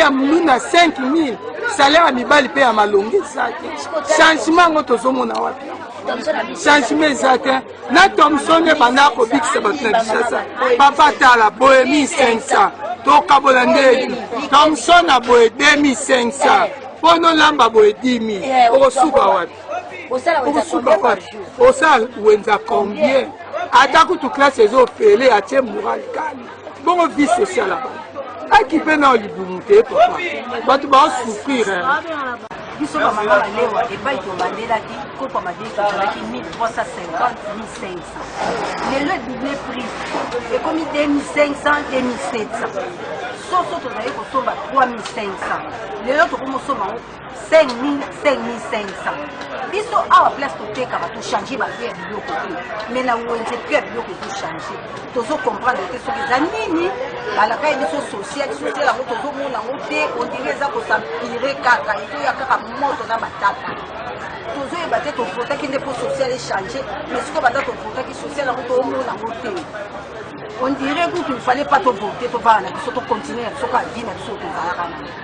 ya muluna 5000 salaire ya mibali mpe ya malongi eza te changement yango tozomona wapi changement eza te na thomson nde banda kobikisa bato na bishasa papa tala boye 1500 tokabola ndeyi thomson na boye 2500 mpo nolamba boye 10000 eh, okosuka wapi okosuka wapi osala wenza combien ata kutu classe ezofele atie moral kani bongo vie sociale ya bato akipe nao libumu te papa bato baosouffrir biso bamama malewa epai tobandelaki kopo madesi ezalaki 1350 1500 lelo edouble prix ekomi 2500 2700 soso tozali kosomba 3500 lelo tokomosomba yango 5500 biso awa place totekaka tochange bato ya biloko te mai na wenze mpe ya biloko ezochange tozocomprendre te soki eza nini balaka ye biso social social yango tozomona yango te ondenge eza kosampire kaka ezoya kaka moto na matata tozoyeba te tovotaki nde mpo social echange mai sikoyo banda tovotaki social yango toomona yango te on dirait kutu il fallait pas tovote tovanda na biso tocontinue na biso kaka vie na biso tozalaka na